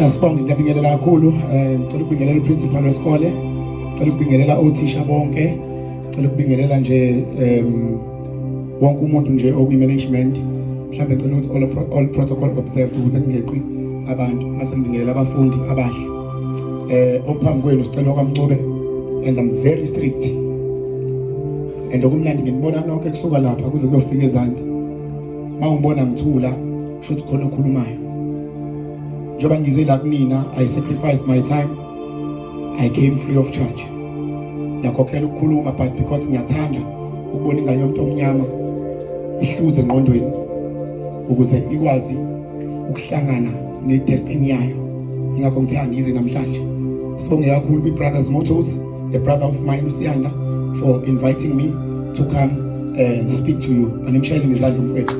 Eh, sibonge ngiyabingelela kakhulu eh, ngicela ukubingelela uprincipal wesikole ngicela ukubingelela othisha bonke ngicela ukubingelela nje um wonke umuntu nje okwi-management mhlawumbe ngicela ukuthi all, all protocol observed ukuze kungeqi abantu mase ngibingelela abafundi abahle um omphambi kwenu sicela kwaMncube and I'm very strict and okumnandi nginibona nonke kusuka lapha kuze kuyofika ezansi uma ungibona ngithula kusho ukuthi khona okhulumayo njengoba ngize la kunina i sacrificed my time i came free of charge ngiyakhokhela ukukhuluma but because ngiyathanda ukubona ingane yomuntu omnyama ihluze engqondweni ukuze ikwazi ukuhlangana nedestiny yayo ingakho ngithanda ngize namhlanje sibonge kakhulu kwi-brothers motors a brother of mine uSiyanda for inviting me to come and speak to you animshayele ngezandla mfowethu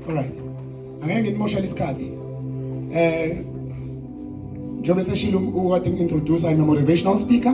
alright angeke ngimoshele isikhathi eh njengoba seshilo ukade ngintroduce I'm a motivational speaker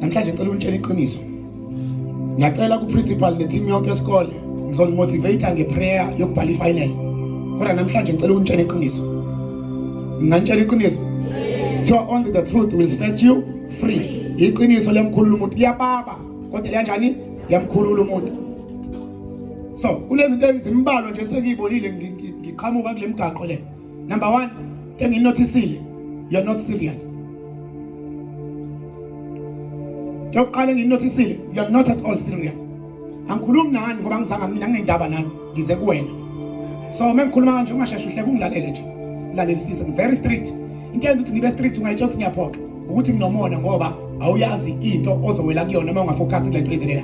namhlanje ngicela unitshela iqiniso ngiyacela ku-principal ne-team yonke yesikole ngizonimotivate-a nge-prayer yokubhala i-final kodwa namhlanje ngicela ukunitshela iqiniso nginganitshela iqiniso kuthiwa only the truth will set you free iqiniso liyamkhulula umuntu liyababa kodwa liyanjani liyamkhulula umuntu so kunezinto ezimbalwa nje sengiyibonile ngiqhamuka kule mgaqo le Number one, can you notice it? You're not serious. Yokuqala enginotisile, you're not at all serious. Angikhulumi nani ngoba ngizanga mina nginendaba nani, ngize kuwena. So uma ngikhuluma kanje ungasheshe uhleke ungilalele nje. Lalelisise, I'm very strict. Into yenza ukuthi ngibe strict ungayitshela ukuthi ngiyaphoxa. ukuthi nginomona ngoba awuyazi into ozowela kuyona uma ungafocus kule nto izelela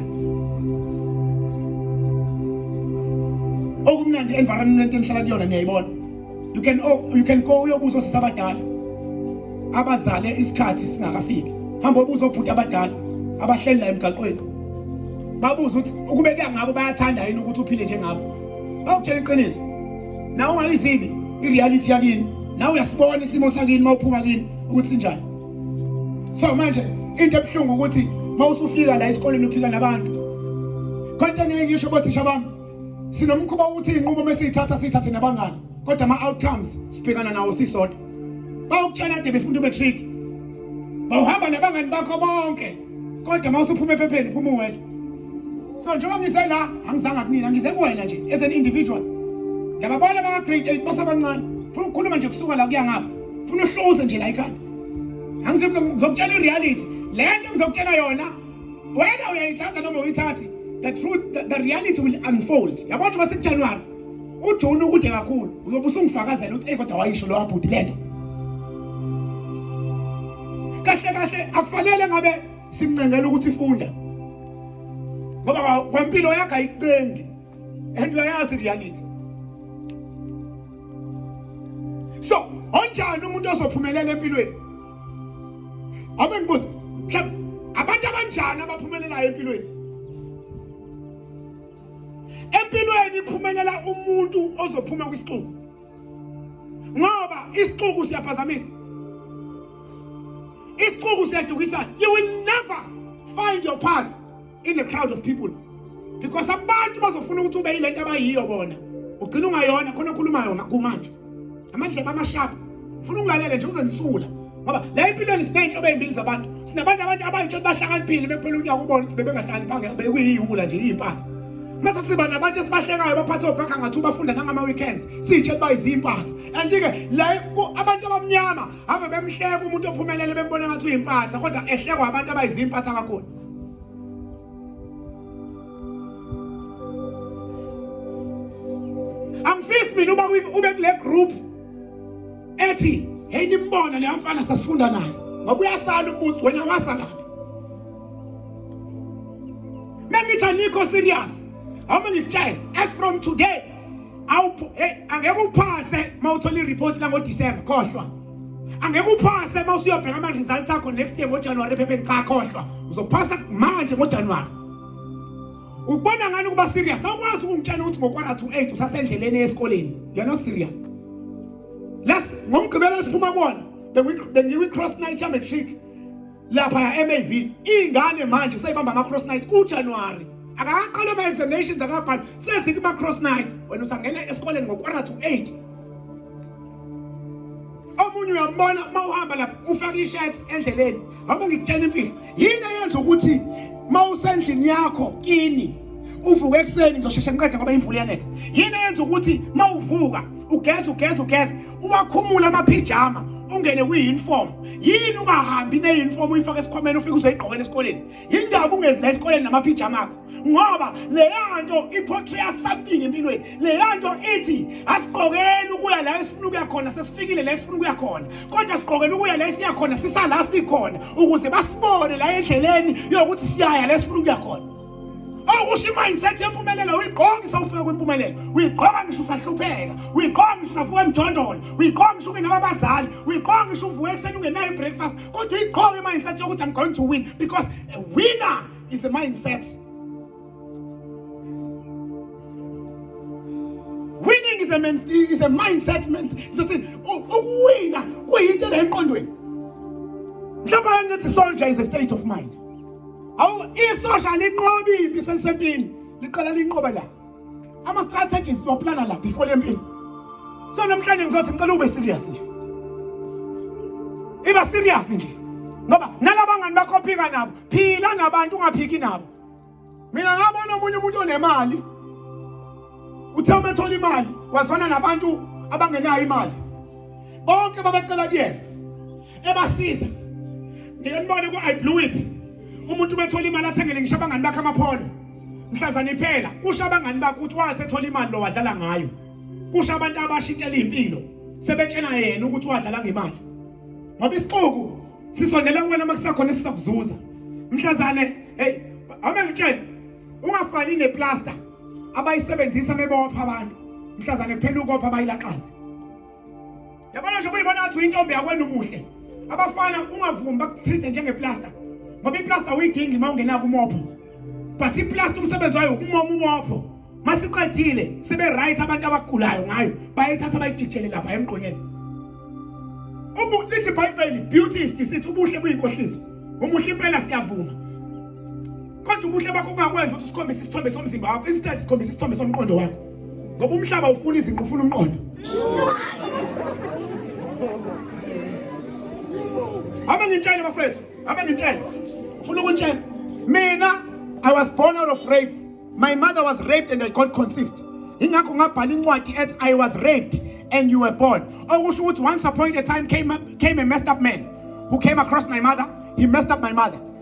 okumnandi environment enihlala kuyona niyayibona you can oh, you can go uyobuza osisi abadala abazale isikhathi singakafiki hamba ubuza obhuti abadala abahleli la emgaqweni babuza ukuthi ukube kuyangabo bayathanda yini ukuthi uphile njengabo bakutshela iqiniso nawe ungayizini i-reality yakini nawe uyasibona isimo sakini uma uphuma kini ukuthi sinjani so manje into ebuhlungu ukuthi uma usufika la esikoleni uphika nabantu konke ngeke ngisho bothisha bami sinomkhuba wokuthi iy'nqumo uma siyithatha siyithathe nabangani kodwa ama-outcomes sibhekana nawo sisodwa bawukutshela kade befunda umatric bawuhamba nabangani bakho bonke kodwa uma usuphuma ephepheni phuma uwedwa so njengoba ngise la angizanga kunina ngize kuwena nje as an individual ngiyababona abaka-grade eight basabancane funa ukukhuluma nje kusuka la kuya ngapha funa uhluze nje la ikhanda angizokutshela i-reality le nto ngizokutshela yona wena uyayithatha noma uyithathi the truth the, the reality will unfold yabona nje uma sekujanuwari ujuni ukude kakhulu uyobe usungifakazela ukuthi eyi kodwa wayisho lowa bhuti le nto kahle kahle akufanele ngabe simncengela ukuthi funda ngoba kwempilo yakhe ayiqengi and uyayazi reality so onjani umuntu ozophumelela empilweni abe ngibuza mhlawumbe abantu abanjani abaphumelelayo empilweni empilweni iphumelela umuntu ozophuma kwisixuku ngoba isixuku siyaphazamisa isixuku siyadukisana you will never find your path in the crowd of people because abantu bazofuna ukuthi ube yilento abayiyo bona ugcina ungayona khona okhulumayo kumanje amandlebe amashabu ngifuna ungilalele nje uze nisula ngoba la empilweni sinenhlobo ezimbili zabantu sinabantu abantu abayitsho ukuthi bahlakaniphile bekuphela unyaka ubona ukuthi bebengahlakaniphanga bekuyiwula nje iyimpatha mase siba nabantu esibahlekayo baphathe obhakha ngathi ubafunda nangama-weekends siyitshe kuba izimpatha and-ke la abantu abamnyama have bemhleka umuntu ophumelele bembona ngathi uyimpatha kodwa ehlekwa abantu abayizimpatha kakhulu angifisi mina uba ube kule group ethi hey nimbona leya mfana sasifunda naye ngoba uyasala umbuzo wena wasalaphi mengithi anikho serious awume ngikutshele as from today awuphu hey angeke uphase mawuthola ireport lango December khohlwa angeke uphase uma usuyobheka ama-results akho next year ngojanuwari ephepheni cha khohlwa uzophasa manje ngojanuwari ukubona ngani ukuba serious awukwazi ukungitshela ukuthi ngokwara to eight usasendleleni esikoleni you're not serious las ngomgqibelo esiphuma kuwona bengiwi-cross night yamatric lapha ya MAV ingane manje seyibamba ama cross night ku January akaqala ama examinations akabhali sezithi ama cross night wena usangena esikoleni ngo quarter to 8 omunye uyambona uma uhamba lapha ufaka i-shirt endleleni hamba ngikutshela imfihlo yini eyenza ukuthi uma usendlini yakho kini uvuka ekuseni ngizosheshe ngiqede ngoba imvula iyanetha yini eyenza ukuthi uma uvuka ugeza ugeza ugeza uwakhumula amaphijama ungene kwi-uniform yini ungahambi ne-uniform uyifake esikhwameni ufike uzoyigqokela esikoleni yini ndaba ungezi la esikoleni namaphijama akho ngoba leya nto iphotreya something empilweni leya nto ithi asigqokeli ukuya la esifuna ukuya khona sesifikile la esifuna ukuya khona kodwa sigqokele ukuya la esiya khona sisala sikhona ukuze basibone la endleleni yokuthi siyaya la esifuna ukuya khona awukusho i-mindset yempumelelo uyigqoka isawufika kwimpumelelo uyigqoka ngisho usahlupheka uyigqoka ngisho usavuka emjondolo uyigqoka ngisho ungenababazali uyigqoka ngisho uvuka ekuseni ungenayo i-breakfast kodwa uyigqoka i-mindset yokuthi i'm going to win because a winner is a mindset winning is a, man, is a mindset ngizothini ukuwina kuyinto le emqondweni mhlawumbe ngithi soldier is a state of mind awu isosha linqobi impi selisempini liqala linqoba la ama strategies waplana la before lempini so namhlanje ngizothi ngicela ube serious nje iba serious nje ngoba nalabangani bakho phika nabo phila nabantu ungaphiki nabo mina ngabona omunye umuntu onemali uthe uma ethola imali wazwana nabantu abangenayo imali bonke babecela kuyena ebasiza ngike nibone ku-i blue it umuntu uma ethola imali athengele ngisho abangani bakhe amaphondo mhlazana iphela kusho abangani bakhe ukuthi wathi ethola imali lo wadlala ngayo kusho abantu abashintshela iy'mpilo sebetshela yena ukuthi wadlala ngemali ngoba isixuku sisondela kuwena uma kusakhona esisakuzuza mhlazane heyi awube ngitshele ungafani neplasta abayisebenzisa mebopha abantu mhlazane kuphela ukopha bayilaxaze yabona nje kuyibona ngathi uyintombi yakwenu umuhle abafana ungavumi bakutreat-e njengeplaster ngoba iplaster uyidingi uma ungena kumopho but iplaster umsebenzi wayo ukumoma umopho masiqedile sebe-right abantu abagulayo ngayo bayithatha bayijikjele lapha emgqonyeni lithi ibhayibheli beauty is deceit ubuhle buyinkohliso umuhle impela siyavuma kodwa ubuhle bakho kungakwenza ukuthi sikhombise isithombe somzimba wakho instead sikhombise isithombe somqondo wakho ngoba umhlaba ufuna izinqu ufuna umqondo hamba ngintshele bafethu hamba ngintshele ufuna ukuntshela mina i was born out of rape my mother was raped and i got conceived ingakho ngabhala incwadi ethi i was raped and you were born okusho ukuthi once upon a time came, came a messed up man who came across my mother he messed up my mother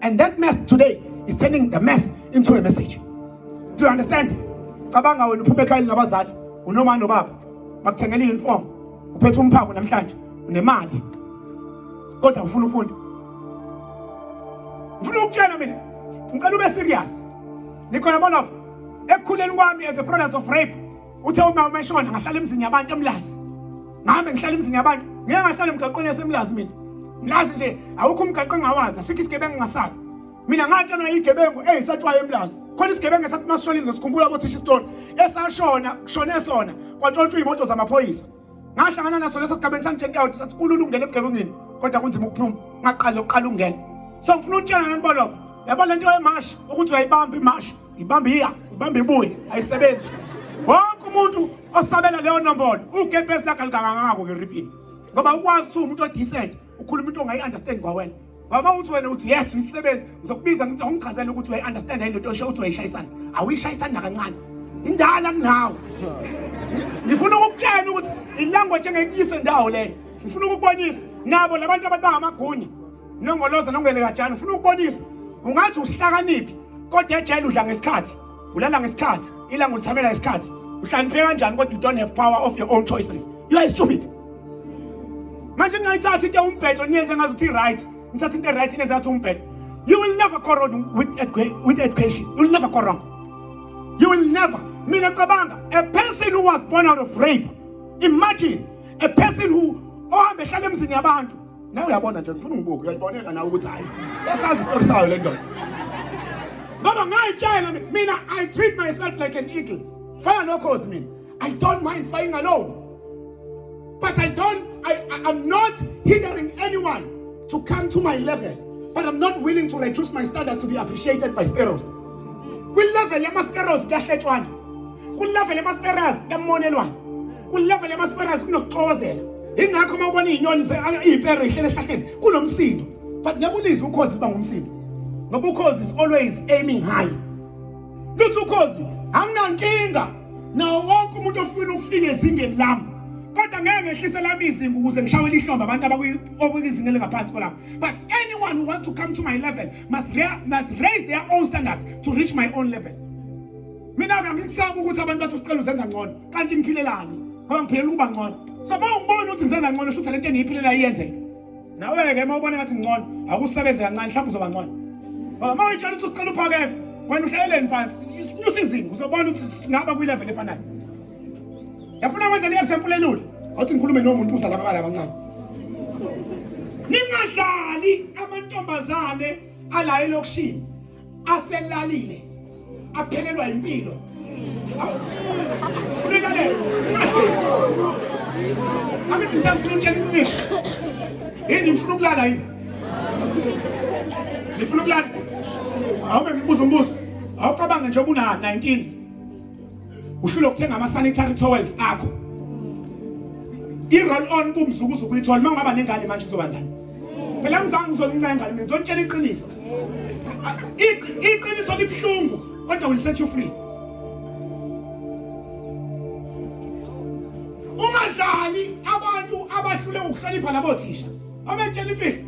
and that mess today is turning the mess into a message do you understand cabanga wena uphuphe ekhayeni nabazali unoma nobaba bakuthengela i-uniform uphethe umphako namhlanje unemali kodwa ufuna ufunda ngifuna ukutshela mina ngicela ube serious nikhona bona ekukhuleni kwami as a product of rape uthe uma uma eshona ngahlala emzini yabantu emlazi ngahambe ngihlala emzini yabantu ngeke ngahlala emgaqweni yasemlazi mina mlazi nje awukho umgaqo engawazi asikho isigebengu ngasazi mina ngatshelwa igebengu eyisatshwayo emlazi khona isigebengu esathi masishonile ngizosikhumbula bothisha isitori esashona kushone sona kwatshontshwa iy'moto zamaphoyisa ngahlangana naso leso sigabeni sangitshela ukuthi sathi kulula ukungena ebugebengini kodwa kunzima ukuphuma ngaqala uqala ungena so ngifuna untshela nani bolovo yabo lento yemashi ukuthi uyayibamba imashi ibamba iya ibamba ibuye ayisebenzi wonke umuntu osabela leyo nombolo ugebhesi lakhe alikangangako ngeripini ngoba ukwazi ukuthi umuntu odecent ukhuluma into ongayi understand kwawena Mama uthi wena uthi yes umsebenzi ngizokubiza ngithi awungichazele ukuthi uyayi understand yini into osho uthi uyayishayisana awuyishayisani nakancane indala kunawo ngifuna ukukutshela ukuthi ilanguage engekuyise ndawo leyo ngifuna ukukubonisa nabo labantu abantu bangamagunya nongoloza nongelekajana ngifuna ukubonisa ungathi usihlakaniphi kodwa ejele udla ngesikhathi ulala ngesikhathi ilanga ulithamela isikhathi uhlanipheka kanjani kodwa you don't have power of your own choices you are stupid manje ningayithatha into umbhedo niyenze ngazi ukuthi right nithatha into right niyenze ngathi umbhedo you will never go wrong with, with education you will never go wrong you will never mina cabanga a person who was born out of rape imagine a person who ohambe ehlala emzini yabantu nawe uyabona nje ngifuna ungibuke uyayibonela nawe ukuthi hayi yasazi isitori sayo le ndoda ngoba ngayitshela mina i treat myself like an eagle fana nokhozi mina i don't mind flying alone but i don't I, I, i'm not hindering anyone to come to my level but i'm not willing to reduce my standard to be appreciated by sparrows kwilevel yamasparrows kuyahletshwana kwilevel yamasparrows kuyamonelwana kulevel yamasperazi kunokuxokozela ingakho uma ubona iyinyoni iyipere ihlele esihlahleni kunomsindo but ngeke ulizwe ukhozi liba ngumsindo ngoba ukhozi is always aiming high luthi ukhozi anginankinga nawo wonke umuntu ofuna ukufika ezingeni lami kodwa ngeke ngehlise lami izinga ukuze ngishawele ihlombe abantu abakwizinga elingaphansi kwelami but anyone who want to come to my level must, must raise their own standards to reach my own level mina-ke angikusaba ukuthi abantu bathi usicela uzenza ngcono kanti ngiphilelani ngoba ngiphilela ukuba ngcono so uma ungibona ukuthi ngisenza ngcono shuthi lento engiyiphilelayo iyenzeka nawe-ke uma ubona ngathi ngcono akusebenze kancane mhlawumbe uzoba ngcono ngoba uma uyitshela ukuthi ucela uphakeme wena uhlaleleni phansi sinyusa izinga uzobona ukuthi singaba kwi-level efanayo yafuna kwenza leyo sempula elula awuthi ngikhulume nomuntu uzala ababala abancane ningadlali amantombazane alayo elokishini aselalile aphelelwa impilo ulilalele angithi ngithanda ufuna utshela iqiniso yini ngifuna ukulala yini ngifuna ukulala awube ngibuza umbuzo awucabange nje ubuna 19 uhlule ukuthenga ama sanitary towels akho i-roll on kumzukuzu kuyithola uma ungaba nengane manje kuzoba njani phela mzange uzoncinca ingane mina ngizonitshela iqiniso iqiniso libuhlungu kodwa will set you free ungadlali abantu abahlule ukuhlonipha labo thisha omentshela imfihlo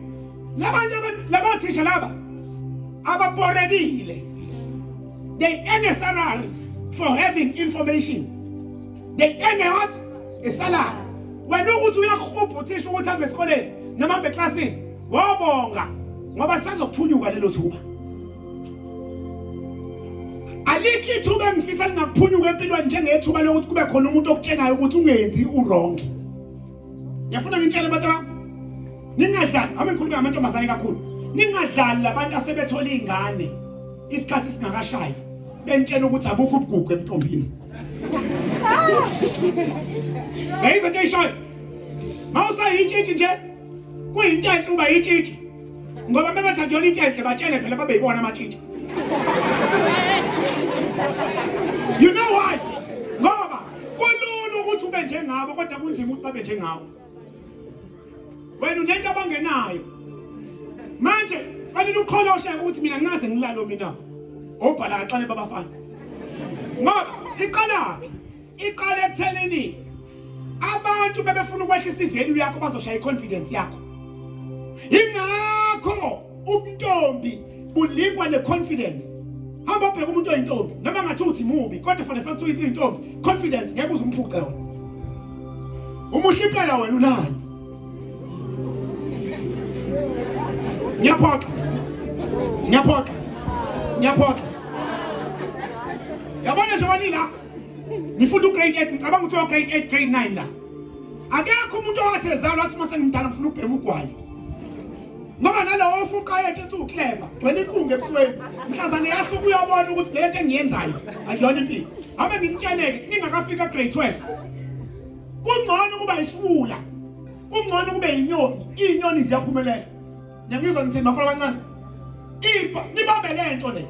labantu labo thisha laba ababorekile They earn a salary for having information. They earn a what? A salary. Wena ukuthi uyahubha uthisha ukuthi hambe esikoleni noma hambe eklasini wabonga ngoba lisazophunyuka lelo thuba. Alikho ithuba engifisa lingaphunyuka empilweni njengethuba lokuthi kube khona umuntu okutshenayo ukuthi ungenzi uwrong. Ngiyafuna ngintshele abantu bami ningadlali ame ngikhuluma ngamantombazane kakhulu ningadlali labantu asebethola izingane isikhathi singakashayi bentshela ukuthi abukho ubugugu emntombini Yayizo into eyishoyo mawusayitshitshi nje kuyinto enhle uba yitshitshi ngoba bebathanda yona into enhle batshele phela babe yibona amatshitshi you know why kulula ukuthi ube njengabo kodwa kunzima ukuthi babe njengawo wena unento abangenayo manje fanele ukholoshe ukuthi mina nginaze ngilalo mina obhala kaxane babafana ngoba iqalaphi iqale ekuthenini abantu bebefuna ukwehlisa ivalue yakho bazoshaya i-confidence yakho yingakho ubuntombi bulikwa ne-confidence hamba ubheka umuntu oyintombi noma ngathi uthi mubi kodwa fanele fathi uyintombi confidence ngeke uze umphuce wona umuhle impela wena unani ngiyaphoxa ngiyaphoxa ngiyaphoxa yabona nje wanila ngifunda ugrade 8 ngicabanga ukuthi ograde 8 grade 9 la akekho umuntu owathi ezalwa athi uma sengimdala ngifuna ukubhema ugwayi ngoba nalowo ufuqa yethu ethi ukleva gcwele inkunga ebusweni mhlazane yasuke uyabona ukuthi le nto engiyenzayo akuyona impilo abe ngikutsheleke ningakafika grade 12 kungcono ukuba isiwula kungcono kube yinyoni iy'nyoni ziyaphumelela nengizwa ngithini bafana abancane impa nibambe le nto le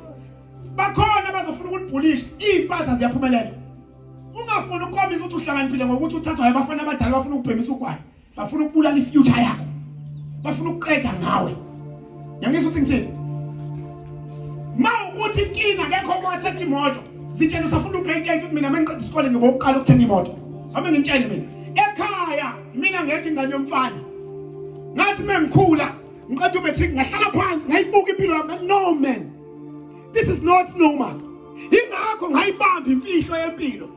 bakhona bazofuna ukunibhulisha iy'mpatha ziyaphumelela ungafuni ukukhombisa ukuthi uhlakaniphile ngokuthi uthathwa abafana abadala bafuna ukubhemisa ugwayi bafuna ukubulala ifuture yakho bafuna ukuqeda ngawe yangizwa ukuthi ngithini ma ukuthi inkinga ngekho kwathetha imoto zitshela usafuna ugrade eight mina mangiqeda isikole ngibo ukuqala ukuthenga imoto hamba ngintshele mina ekhaya mina ngekho ingane yomfana ngathi mengikhula ngiqeda umatric ngahlala phansi ngayibuka impilo yami no man this is not normal ingakho ngayibamba imfihlo yempilo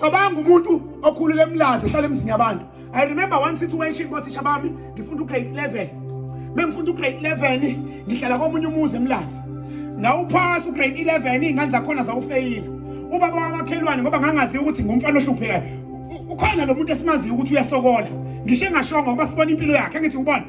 cabanga umuntu okhulule emlazi ehlala emzini yabantu i remember one situation kothisha bami ngifunda ugrade 11 mengifunda ugrade 11 ngihlala komunye umuzi emlazi ngawuphasa ugrade 11 iy'ngane zakhona zawufeyile ubaba wamakhelwane ngoba ngangazi ukuthi ngumfana ohluphekayo ukhona lo muntu esimaziyo ukuthi uyasokola ngisho engashongo ngoba sibona impilo yakhe ngithi ubona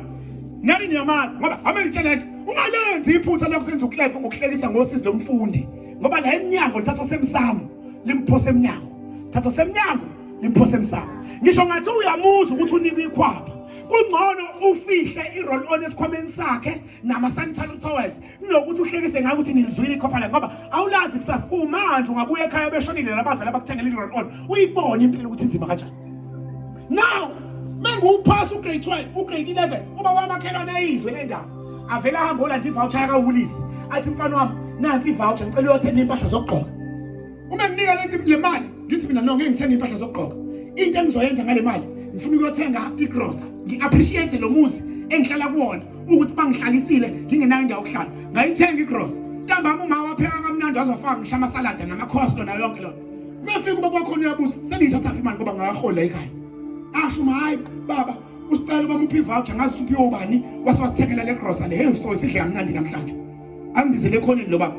nani niyamazi ngoba ame ngitshela nto ungalenzi iphutha lokusenza ucleve ngokuhlekisa ngosizi lomfundi ngoba la emnyango lithathwa semsamo limphosa emnyango thatha semnyango nimphose emsamo ngisho ngathi uyamuza ukuthi unikwe ikhwapha kungcono ufihle i-roll on esikhwameni sakhe nama-sanitary towels kunokuthi uhlekise ngayo ukuthi nilizwile ikhopha lakhe ngoba awulazi kusasa umanje ungabuya ekhaya beshonile labazali abakuthengela i-roll on uyibone impilo ukuthi inzima kanjani now menguwuphasa ugrade 12 ugrade 11 uba wamakhelwane eyizwe le ndaba avele ahambe olanda ivoucher yakawulisi athi mfana wami nansi ivoucher ngicela uyothenga impahla zokugqoka uma nginika lezi le mali ngithi mina no ngeke ngithenge impahla zokugqoka into engizoyenza ngale mali ngifuna ukuyothenga igrosa ngi-appreciate lo muzi engihlala kuwona ukuthi bangihlalisile ngingenayo indawo yokuhlala ngayithenga igrosa ntambama uma wapheka kamnandi wazofaka ngisho amasalada namakhoslo nayo yonke lona uma fika uba kwakhona uyabuza sendiyithathaphi imali ngoba ngakahola ekhaya asho uma hhayi baba usicela uma muphi voucher ngazi suphi obani wase wasithekela le grocery hey so isidle kamnandi namhlanje angibizele ekhoneni lo baba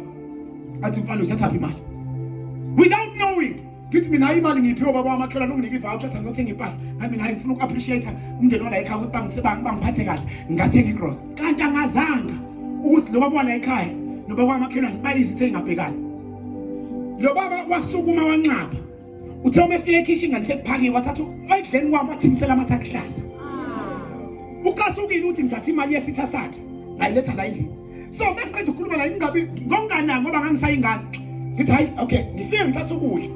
athi mfana uthatha phi imali without knowing ngithi mina hayi imali ngiphiwe baba wamakhelwane unginike ivoucher athi ngiyothenga impahla ngani mina hayi ngifuna uku-appreciate umndeni wala ekhaya ukuthi bangiphathe kahle ngathenga igross kanti angazanga ukuthi lo baba wala ekhaya noba kwamakhelwane bayizithe ingabhekani lo baba wasukuma wanxapha uthe uma efika ekhishini kanti sekuphakiwe wathatha ekudleni kwami wathimisela amathe akuhlaza ukasukile uthi ngithatha imali yesitha sakhe ngayiletha la endlini so mekuqeda ukukhuluma la ingabi ngokunganani ngoba ngangisayingane ngithi hayi okay ngifike ngithatha ukudla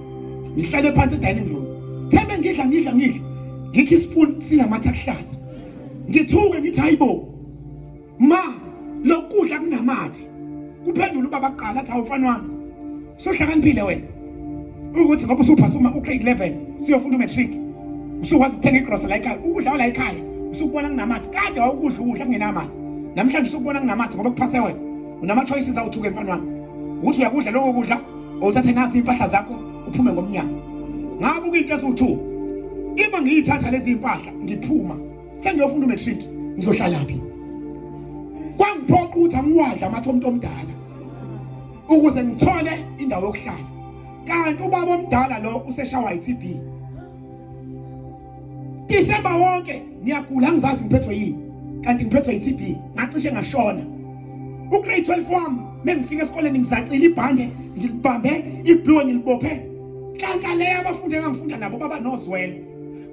ngihlale phansi edining room thembe ngidla ngidla ngidla ngikho ispoon sinamathe akuhlaza ngithuke ngithi hayi bo ma lokudla kunamathe kuphendula ubaba kuqala athi awumfana wami sohlakaniphile wena ukuthi ngoba usuphasa uma ugrade 11 siyofunda umatric usukwazi ukuthenga igrosa la ekhaya ukudla wala ekhaya usukubona kunamathi kade wawukudla ukudla kungenamathi namhlanje usukubona kunamathi ngoba kuphase wena unama-choices awuthuke mfana wami ukuthi uyakudla loko kudla owuthathe nazi iy'mpahla zakho uphume ngomnyango ngabuka into eziwu-two ima ngiyithatha lezi mpahla ngiphuma sengiyofunda umatric ngizohlalaphi kwangiphoqa ukuthi angiwadla amathe omuntu omdala ukuze ngithole indawo yokuhlala kanti ubaba omdala lo useshawa iTB December wonke ngiyagula ngizazi ngiphethwe yini kanti ngiphethwe iTB ngacishe ngashona ugrade 12 wami mengifika esikoleni ngizacila ibhande ngilibambe iblue ngilibophe kanti leyo abafundi engangifunda nabo baba nozwelo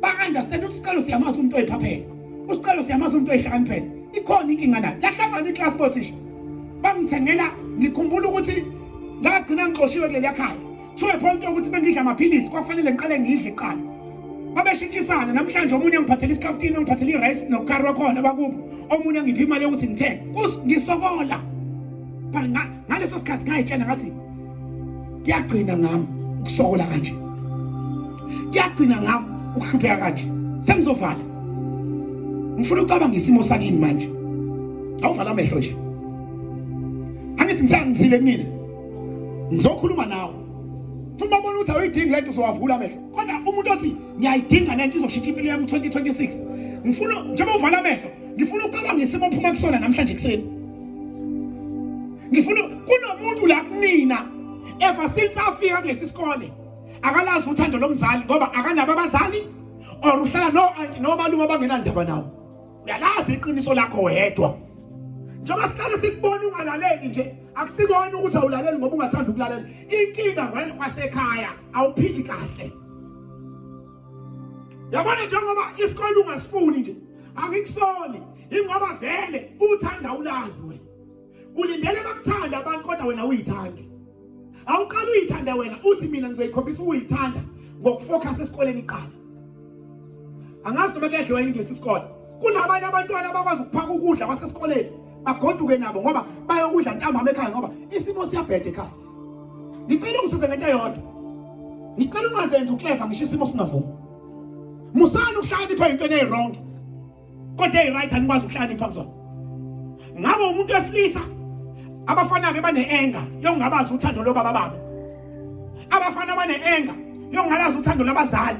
ba-understand usicelo siyamazi umuntu oyiphaphela usicelo siyamazi umuntu oyihlakaniphela ikhona inkinga nayo lahlangana iklasi bothisha bangithengela ngikhumbula ukuthi ngagcina ngixoshiwe kuleliya khaya to a point yokuthi bengidla amaphilisi kwakufanele ngiqale ngidle kuqala babeshintshisana namhlanje omunye angiphathela isikafutini ongiphathela i-rice nokukari wakhona bakubo omunye angiphi imali yokuthi ngithenge ngisokola but ngaleso sikhathi ngayitshela ngathi kuyagcina ngami ukusokola kanje kuyagcina ngami ukuhlupheka kanje sengizovala ngifuna ucabanga isimo sakini manje awuvala amehlo nje angithi ngisangizile mina ngizokhuluma nawe funa ubona ukuthi awuyidingi lento uzowavula amehlo kodwa umuntu othi ngiyayidinga lento izoshintsha impilo yami 2026 ngifuna njengoba uvala amehlo ngifuna ukucabanga ngesimo ophuma kusona namhlanje kuseni ngifuna kunomuntu la kunina ever since afika kulesi sikole akalazi uthando lomzali ngoba akanabo abazali or uhlala no anti nomalume abangenandaba nawo uyalazi iqiniso lakho wedwa njengoba sihlale sikubona ungalaleli nje akusikona ukuthi awulaleli ngoba ungathanda ukulalela inkinga wena kwasekhaya awuphili kahle yabona njengoba isikole ungasifuni nje angikusoli ingoba vele uthanda ulazi wena ulindele bakuthanda abantu kodwa wena uyithandi awuqala uyithanda wena uthi mina ngizoyikhombisa uyithanda ngokufocus esikoleni iqala angazi noma kuyadliwa yini kulesi sikole kunabanye abantwana abakwazi ukuphaka ukudla kwasesikoleni bagoduke nabo ngoba bayokudla ntambama ekhaya ngoba isimo siyabheda ekhaya ngicela ungisize ngento yodwa ngicela ungazenzi ukleva ngisho isimo singavumi musani ukuhlakanipha entweni eyirongo kodwa eyi-right anikwazi ukuhlakanipha kuzona ngabe umuntu wesilisa abafana-ke bane-enga yokungabazi uthando lobaba babo abafana bane-enga yokungalazi uthando labazali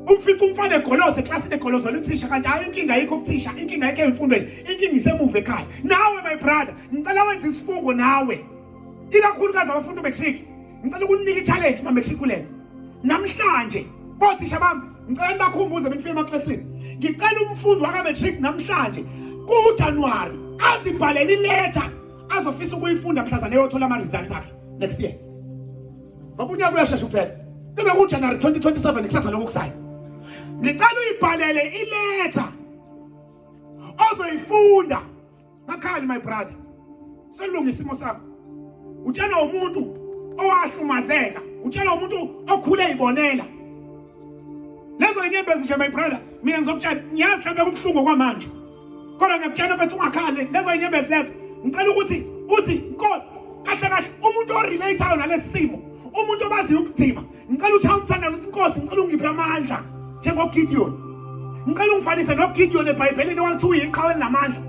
umfica umfana egoloze eklasini egolozela uthisha kanti hayi inkinga ayikho kuthisha inkinga ayikho emfundweni inkinga isemuva ekhaya nawe my brother ngicela wenze isifungo nawe ikakhulukazi abafunda umatric ngicela ukunika i-challenge ma-matriculants namhlanje kothisha bami ngicela nibakhumbuze benifike emaklasini ngicela umfundi waka-matric namhlanje kujanuwari azibhalele iletha azofisa ukuyifunda mhlazane eyothola ama-results akhe next year ngoba unyaka uyashesha ukuphela kube kujanuwari 2027 kusasa lokhu kusayo ngicela uyibhalele iletha ozoyifunda Makhali my brother. Selunga isimo sakho. Utshela umuntu owahlumazeka, utshela umuntu okhule ibonela. Lezo inyembezi nje my brother, mina ngizokutshela ngiyazi mhlawumbe kubuhlungu kwamanje. Kodwa ngiyakutshela mfethu ungakhali lezo inyembezi lezo. Ngicela ukuthi uthi Nkosi kahle kahle umuntu orelateayo nalesimo, umuntu obaziyo ubudima ngicela ushaya umthandazo uthi inkosi ngicela ungiphe amandla njengogidiyoni ngicela ungifanise nogidiyoni ebhayibhelini owathi uyiqhawe elinamandla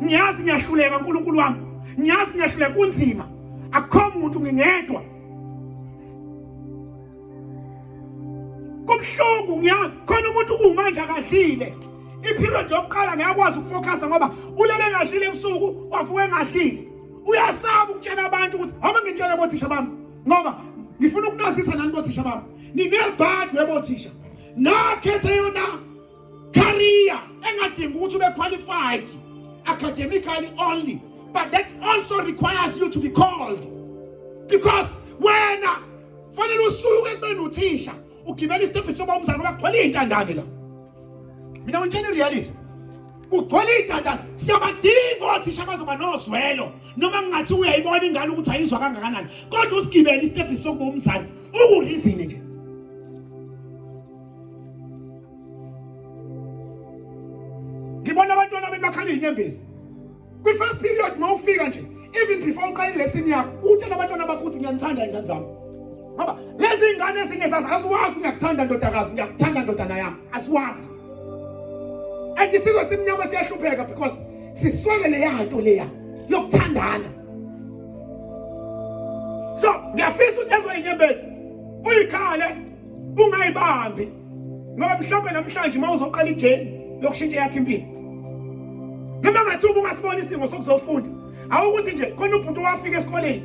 ngiyazi ngiyahluleka nkulunkulu wami ngiyazi ngiyahluleka kunzima akukho muntu ngingedwa kubuhlungu ngiyazi khona umuntu kuwumanje akadlile iperiod yokuqala ngiyakwazi ukufocusa ngoba ulele engadlile ebusuku wavuka engadlile uyasaba ukutshela abantu ukuthi homa ngitshele kothisha bami ngoba ngifuna ukunazisa nani bothisha bami ninebhadi webothisha nakhethe yona career engadingi ukuthi ube qualified academically only but that also requires you to be called because wena fanele usuke ekubeni uthisha ugibela isitebhisi soba umzali ngoba kugcwele iy'ntandane la mina ngitshela i-reality kugcwele iy'ntandane siyabadinga othisha bazoba nozwelo noma ngingathi uyayibona ingane ukuthi ayizwa kangakanani kodwa usigibele isitebhisi sokuba umzali ukurizini nje ngibona abantwana benu bakhala iy'nyembezi kwi-first period uma ufika nje even before uqala ilesini yakho utshela abantwana bakho ukuthi ngiyanithanda ingane zami ngoba lezi ngane ezingezazi asiwazi ngiyakuthanda ndodakazi ngiyakuthanda ndodana yami asiwazi and isizwe simnyama siyahlupheka because siswele leya nto leya yokuthandana so ngiyafisa ukuthi ezoyinyembezi uyikhale ungayibambi ngoba mhlawumbe namhlanje uma uzoqala ijeni yokushintsha yakhe impilo noma ngathi uba ungasibona isidingo sokuzofunda awukuthi nje khona ubhuti owafika esikoleni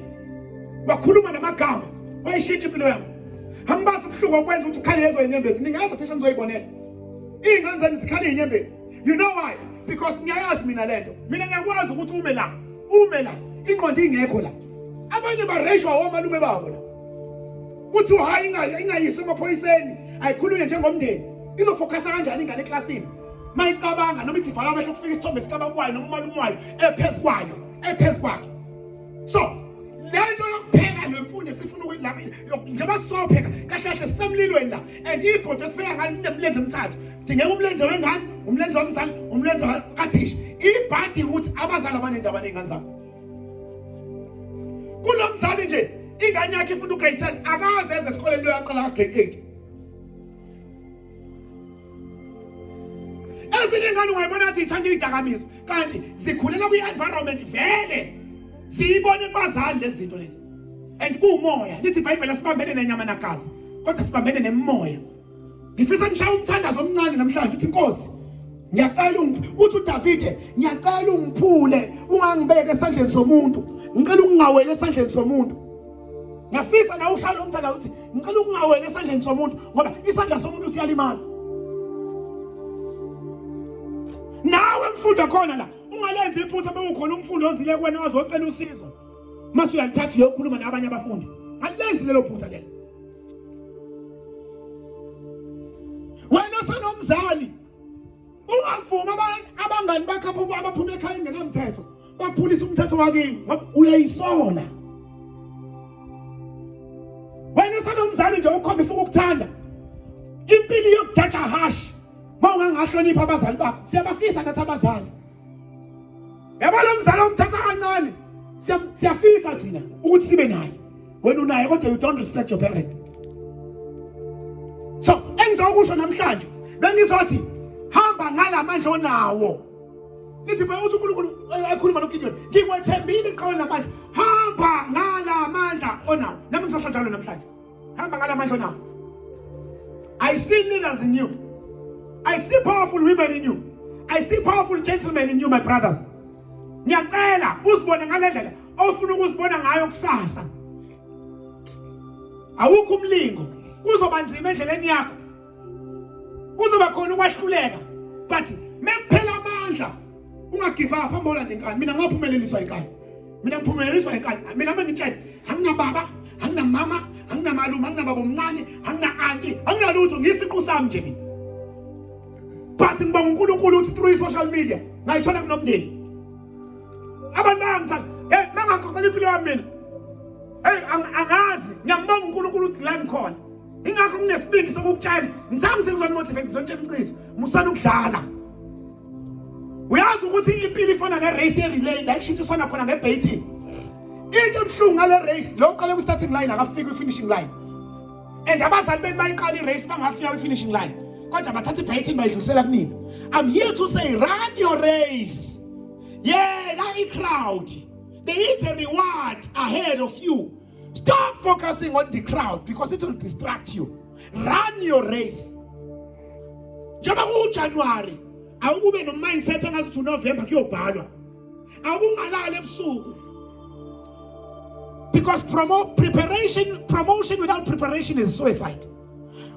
wakhuluma namagama wayishintsha impilo yakho angibazi ubuhlungu okwenza ukuthi ukhale lezo inyembezi ningazi thisha nizoyibonela iy'ngane zami zikhale inyembezi you know why because ngiyayazi mina le nto mina ngiyakwazi ukuthi ume la ume la ingqondo ingekho la abanye bareshwa omalume babo la kuthiwa hayi ingayiswa emaphoyiseni ayikhulunywe njengomndeni izofokhasa kanjani ingane eklasini uma icabanga noma ithi vala amehlo kufika isithombe sikabakwayo noma umalume wayo ephezu kwayo ephezu kwakhe so le nto yokupheka le mfundo esifuna njengoba sizopheka kahle kahle sisemlilweni la and ibhodo esipheka ngani linemlenze emithathu dingeka umlenze wengane umlenze womzali umlenze kathisha ibhadi ukuthi abazali abanendaba ney'ngane zabo kulo mzali nje ingane yakhe ifunda ugrade 10 akaze eze esikoleni lo yaqala kagrade 8 ezinye ingane ungayibona athi ithanda idakamizwa kanti zikhulela kwi-environment vele siyibone kubazali lezi zinto lezi and kuwumoya lithi ibhayibheli asibambene nenyama nagazi kodwa sibambene nemoya ngifisa ngishaye umthandazo omncane namhlanje uthi inkosi ngiyacela uthi uDavide ngiyacela ungiphule ungangibeke esandleni somuntu ngicela ungingawele esandleni somuntu ngiyafisa na ushaya lo mthandazo uthi ngicela ungingawele esandleni somuntu ngoba isandla somuntu siyalimaza nawe mfundo khona la ungalenzi iphutha bewukhona umfundi ozile kwena ozocela usizo mase uyalithatha uyokhuluma nabanye abafundi alilenzi lelo phutha lelo wena osenomzali ungavuma abangani bakho abaphuma ekhaya engenamthetho baphulisa umthetho wakini ngoba uyayisola wena osenomzali nje ukhombisa ukukuthanda impilo yokujaja hashi uma ungangahloniphi abazali bakho siyabafisa nathi abazali yabo lo mzala omthatha kancane siyafisa thina ukuthi sibe naye wena unaye kodwa you don't respect your parent so engizokusho namhlanje bengizothi hamba ngalamandla onawo lithi phela uthi uNkulunkulu eh, ekhuluma noGideon ngikwethembile iqhawe namandla hamba ngalamandla onawo nami ngizosho njalo namhlanje hamba ngalamandla nawo i see leaders in you i see powerful women in you i see powerful gentlemen in you my brothers ngiyacela uzibone ngalendlela ofuna ukuzibona ngayo kusasa awukho umlingo kuzoba nzima endleleni yakho kuzoba khona ukwahluleka but mekuphela amandla ungagive up hamba olanda inkani mina ngaphumeleliswa inkani mina ngiphumeleliswa inkani mina uma ngitshela anginababa anginamama anginamalume anginababa omncane angina-anti anginalutho ngiyisiqu sami nje mina but ngiba ngunkulunkulu uthi through i-social media ngayithola kunomndeni abantu bayangithanda hey mangaxoxela impilo yami mina hey angazi ngiyambonga unkulunkulu ukuthi la ngikhona ingakho nginesibindi sokukutshela ngithanda ngisebenzisa motivate ngizotshela iqiniso musana ukudlala uyazi ukuthi impilo ifana ne race ye relay la ishintshiswana khona nge baiting into ebuhlungu ngale race lo uqale ku starting line akafiki ku finishing line and abazali benu bayiqala i race bangafika ku finishing line kodwa bathatha i baiting bayidlulisela kunina i'm here to say run your race yeah la i crowd there is a reward ahead of you Stop focusing on the crowd because it will distract you. Run your race. Njengoba kuJanuary awukube no mindset angazi ukuthi November kuyobhalwa. Awungalali ebusuku. Because promo preparation promotion without preparation is suicide.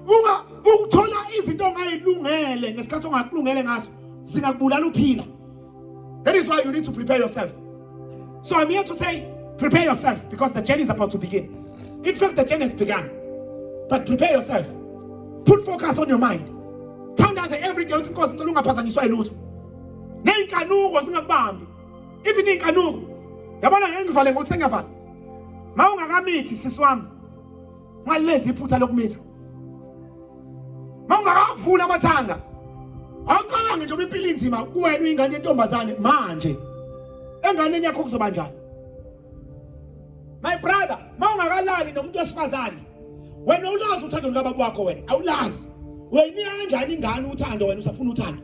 Unga ukuthola izinto ongayilungele ngesikhathi ongakulungele ngaso zingakubulala uphila. That is why you need to prepare yourself. So I'm here to say, prepare yourself because the journey is about to begin. In fact, the journey has begun. But prepare yourself. Put focus on your mind. Thandaze every day uthi Nkosi ngicela ungaphazanyiswa yilutho. Nezinkanuko zingakubambi. Even inkanuko. Yabona ngeke ngivale ngokuthi sengiyavala. Mawungakamithi sisi wami. ungalenzi iphutha lokumitha mawungakavula amathanga awucabange njengoba impilo inzima kuwena uyingane yentombazane manje enganeni yakho kuzoba njani my brother mawungakalali nomuntu wesifazane wena ulazi uthando lukababa wakho wena awulazi uyayinika kanjani ingane uthando wena usafuna uthando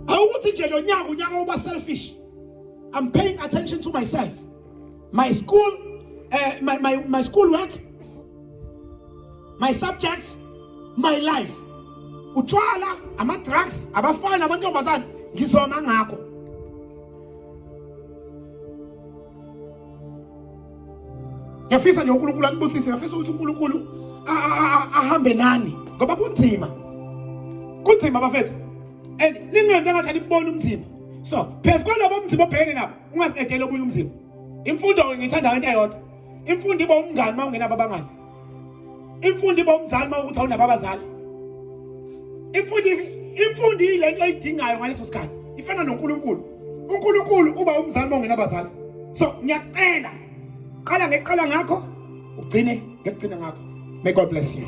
awukuthi nje lo nyaka unyaka uba selfish i'm paying attention to myself my school uh, my, my, my school work my subjects my life utshwala ama-drugs abafana amantombazane ngizoma ngakho ngiyafisa nje unkulunkulu anibusise ngiyafisa ukuthi unkulunkulu ahambe nani ngoba kunzima kunzima bafethu and ningenze ngathi anibona umzima so phezu kwalabo mzima obhekene nabo ungasiketheli obunye umzimba imfundo ngiyithanda ngento eyodwa imfundo iba umngani uma ungenabo abangani imfundo iba umzali uma ukuthi awunabo abazali imfundo imfundo yilento oyidingayo ngaleso sikhathi ifana noNkulunkulu uNkulunkulu uba umzali uma ungenabazali so ngiyacela qala ngeqala ngakho ugcine ngekugcina ngakho may god bless you